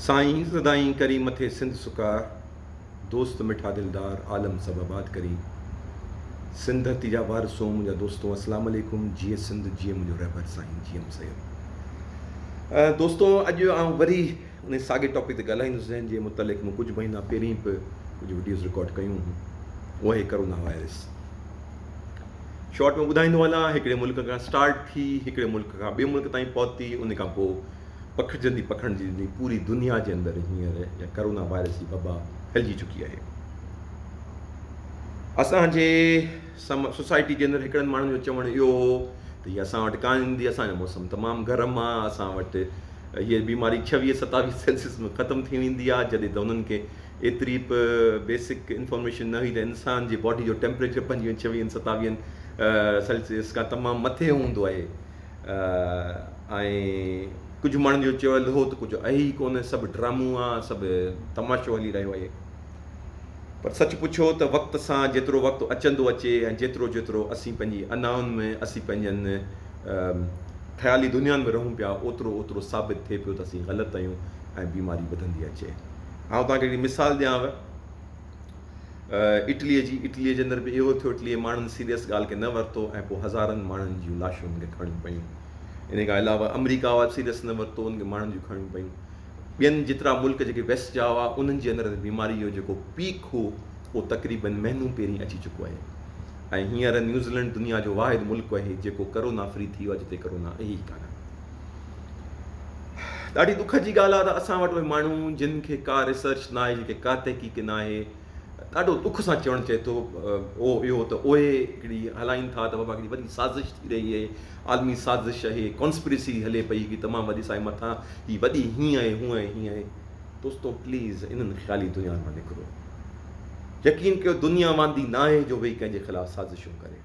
سائين سدائين ڪرين مٿي سنڌ سڪار دوست مٺا دلدار عالم سڀ آباد ڪرين سنڌ ڌرتي جا وارثو منهنجا دوستو اسلام عليڪم جيئي سنڌ جيئي منهنجو رهبر سائين جي ايم سيد دوستو اڄ آئون وري ان ساڳي ٽاپڪ تي ڳالهائيندس جنهن جي متعلق مون ڪجهه مهينا پهرين به ڪجهه وڊيوز رڪارڊ ڪيون هيون اهي ڪرونا وائرس شارٽ ۾ ٻڌائيندو هلان هڪڙي ملڪ کان اسٽارٽ ٿي هڪڙي ملڪ کان ٻئي ملڪ تائين پهتي ان کان پوء پکڙجندي پکڙجندي پوري دنيا جي اندر هينئر اها ڪرونا وائرس جي وبا ڦهلجي چڪي آهي اسان جي سم سوسائٽي جي اندر هڪڙن ماڻهن جو چوڻ اهو هو ته هي اسان وٽ ڪانه ايندي اسان جو موسم تمام گرم آهي اسان وٽ هيء بيماري ڇويهه ستاويهه سيلسيس ۾ ختم ٿي ويندي آهي جڏهن ته هنن کي ايتري به بيسڪ انفارميشن نه هئي ته انسان جي باڊي جو ٽيمپريچر پنجويهن ڇويهن ستاويهن سيلسيس کان تمام مٿي هوندو آهي ۽ ڪجهه ماڻهن جو چيل هو ته ڪجهه اهي ئي ڪونه سڀ ڊرامو آ سڀ تماشو هلي رهيو آهي پر سچ پڇو ته وقت سان جيترو وقت اچندو اچي ۽ جيترو جيترو اسين پنهنجي انائن ۾ اسين پنهنجن خيالي دنيا ۾ رهون پيا اوترو اوترو ثابت ٿئي پيو ته اسين غلط آهيون ۽ بيماري وڌندي اچي آئون توهان کي هڪڙي مثال ڏيانو اٽلي جي اٽلي جي اندر به اهو ٿيو اٽلي ماڻهن سيريس ڳالهه کي نه ورتو ۽ پوء هزارن ماڻهن جون لاشون هن کي کڻڻيون پيون ان کان علاوه امريڪا واري سيريس نه ورتو ان کي ماڻهن جون کڻڻيون پيون ٻين جيترا ملڪ جيڪي ويسٽ جا هئا انهن جي اندر بيماري جو جيڪو پيڪ هو اهو تقريبن مهينو پهرين اچي چڪو آهي ۽ هينئر نيوزيلينڊ دنيا جو واحد ملڪ آهي جيڪو ڪرونا فري ٿي ويو جتي ڪرونا اهي ئي ڪانه ڏاڍي دک جي ڳالهه آهي ته اسان وٽ اهي ماڻهو جن کي ڪا ريسرچ نه آهي جن کي ڪا تحقيق نه آهي ڏاڍو دک سان چوڻ چئي ٿو او اهو ته اهي هڪڙي هلائين ٿا ته بابا هڪڙي وڏي سازش ٿي رهي اهي عالمي سازش اهي ڪانسپريسي هلي پئي هڪڙي تمام وڏي سائي مٿان هي وڏي هيئن آهي هونء آهي هيئن آهي دوستو پليز انهن خيالي دنيا مان نڪرو يقين ڪيو دنيا واندي نه آهي جو ويهي ڪنهن جي خلاف سازشون ڪري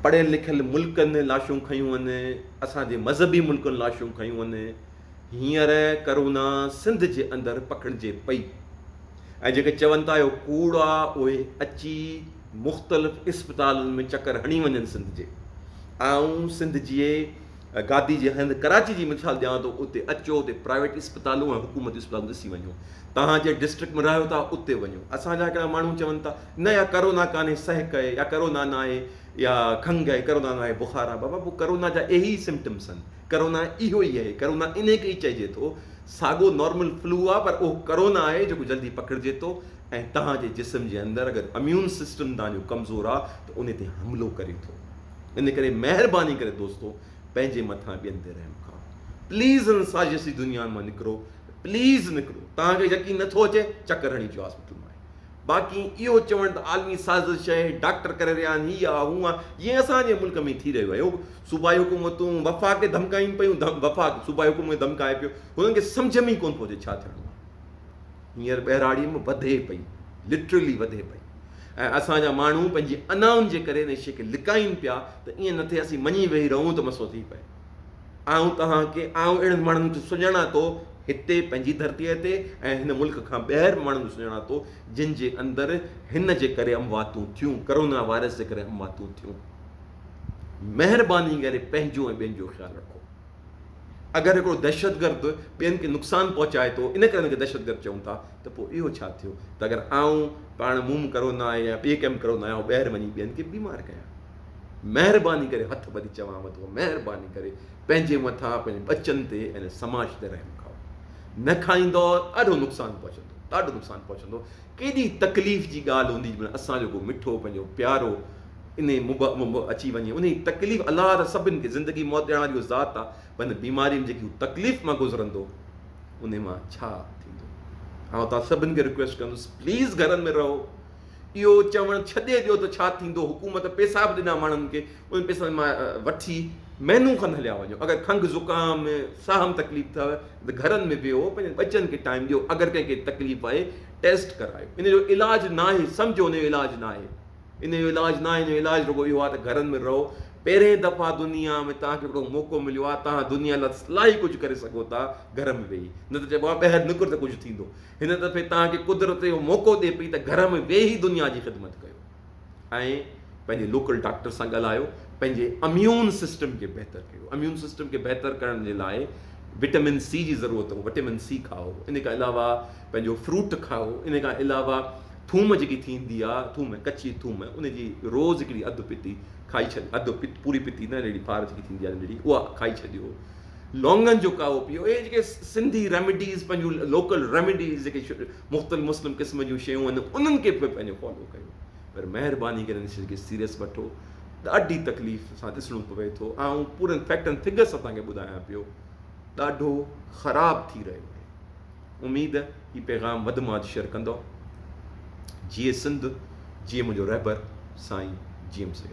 پڙهيل لکيل ملڪن لاشون کنيون هن اسان جي مذهبي ملڪن لاشون کنيون هن هينئر ڪرونا سنڌ جي اندر پکڙجي پئي ۽ جيڪي چون ٿا اهو ڪوڙ آ اهي اچي مختلف اسپتالن ۾ چڪر هڻي وڃن سنڌ جي آئون سنڌ جي گادي جي هنڌ ڪراچي جي مثال ڏيان ٿو اتي اچو اتي پرائيويٽ اسپتالون ۽ حڪومتي اسپتالون ڏسي وڃو توهان جنهن ڊسٽرڪٽ ۾ رهيو ٿا اتي وڃو اسان جا هڪڙا ماڻهو چون ٿا نه يا ڪرونا ڪانهي سهڪ آهي يا ڪرونا نه آهي يا کنگ آهي ڪرونا نه آهي بخار آهي بابا پوء ڪرونا جا اهي ئي سمٽمس آهن ڪرونا اهو ئي آهي ڪرونا انهي کي ئي چئجي ٿو ساڳو نارمل فلو آهي پر اهو ڪرونا آهي جيڪو جلدي پکڙجي ٿو ۽ توهان جي جسم جي اندر اگر اميون سسٽم توهان جو ڪمزور آهي ته انهي تي حملو ڪري ٿو ان ڪري مهرباني ڪري دوستو پنهنجي مٿان ٻين تي رحم ڪرو پليز ان سازش جي دنيا مان نڪرو پليز نڪرو توهان کي يقين نٿو اچي چڪر هڻي جو هاسپيٽل مان باقي اهو چوڻ ته عالمي سازش آهي ڊاڪٽر ڪري رهيا آهن هي آ هو آ جيئن اسان جي ملڪ ۾ ٿي رهيو آهي صوبائي حڪومتون وفاق کي ڌمڪائين پيون وفاق صوبائي حڪومت کي ڌمڪائي پيو هنن کي سمجهه ۾ ئي ڪونه ٿو اچي ڇا ٿيڻو آهي هينئر ٻهراڙيء ۾ وڌي پئي، Literally وڌي پئي ۽ اسان جا ماڻهو پنهنجي انائن جي ڪري ان شيء کي لڪائين پيا ته ائين نه ٿئي اسين مڃي ويهي رهون ته مسئلو ٿي پئي. آئون توهان کي، آئون اهڙن ماڻهن کي سڃاڻان ٿو هتي پنهنجي ڌرتيء تي ۽ هن ملڪ کان ٻاهر به ماڻهن کي سڃاڻان ٿو جن جي اندر هن جي ڪري امواتون ٿيون، ڪرونا وائرس جي ڪري امواتون ٿيون. مهرباني ڪري پنهنجو ۽ ٻين جو خيال رکو. اگر هڪڙو دهشتگرد ٻين کي نقصان پهچائي ٿو ان ڪري ان کي دهشتگرد چئون ٿا ته پوء اهو ڇا ٿيو ته اگر آئون پاڻ موم ڪرونا آهي يا ٻي ڪم ڪرونا آهي ٻاهر وڃي ٻين کي بيمار ڪيان مهرباني ڪري هٿ ٻڌي چوان ٿو مهرباني ڪري پنهنجي مٿان پنهنجي ٻچن تي ۽ سماج تي رحم کائو نه کائيندو ڏاڍو نقصان پهچندو ڏاڍو نقصان پهچندو ڪيڏي تڪليف جي ڳالهه هوندي جنهن اسان جو ڪو مٺو پنهنجو پيارو انهي مبه م م اچي وڃي انهي تڪليف الله ته سڀن کي زندگي موت ڏيارڻ واري اهو ذات آ پر ان بيماري م جيڪي هو تڪليف مان گذرندو انهي مان ڇا ٿيندو آئون توهان سڀن کي رڪويسٽ ڪندس پليز گهرن ۾ رهو اهو چوڻ ڇڏي ڏيو ته ڇا ٿيندو حڪومت پيسا به ڏنا ماڻهن کي انهن پيسن مان وٺي مهنو کن هليا وڃو اگر کنگهه زڪام ساهه م تڪليف ٿئي ته گهرن ۾ ويهو پنهنجن ٻچن کي ٽائيم ڏيو اگر ڪنهن کي تڪليف آهي ٽيسٽ ڪرايو انهي جو علاج ناهي سمجهو انهي جو علاج ناهي ان جو علاج ناهي ان جو علاج رڳو اهو آهي ته گهرن ۾ رهو پهرين دفعا دنيا ۾ توهان کي هڪڙو موقعو مليو آهي توهان دنيا لاء الاهي ڪجهه ڪري سگهو ٿا گهر ۾ ويهي نه ته چئبو آهي ٻاهر نڪر ته ڪجهه ٿيندو هن دفعي توهان کي قدرت اهو موقعو ڏي پئي ته گهر ۾ ويهي دنيا جي خدمت ڪيو ۽ پنهنجي لوڪل ڊاڪٽر سان ڳالهايو پنهنجي اميون سسٽم کي بهتر ڪيو اميون سسٽم کي بهتر ڪرڻ جي لاء وٽامن سي جي ضرورت وٽامن سي کائو ان کان علاوه پنهنجو فروٽ کائو ان کان علاوه ٿوم جيڪي ٿيندي آ ٿوم ڪچي ٿوم ان جي روز هڪڙي اڌ پتي کائي ڇڏيو اڌ پت پوري پتي نه ننڍڙي ڦار جيڪي ٿيندي آ ننڍڙي اها کائي ڇڏيو لونگن جو قهوو پيو اهي جيڪي سنڌي ريميڊيز پنهنجون لوڪل ريميڊيز جيڪي مختلف مسلم قسم جون شيون آهن انهن کي به پنهنجو فالو ڪيو پر مهرباني ڪري ان شي کي سيريس وٺو ڏاڍي تڪليف سان ڏسڻو پوي ٿو آئون پورن فيڪٽن فگرس سان تان کي ٻڌايان پيو ڏاڍو خراب ٿي رهيو آهي اميد هي پيغام وڌ مان وڌ شيئر ڪندؤ. جيئي سنڌ جيئي منهنجو رهبر سائين جي ايم سيد.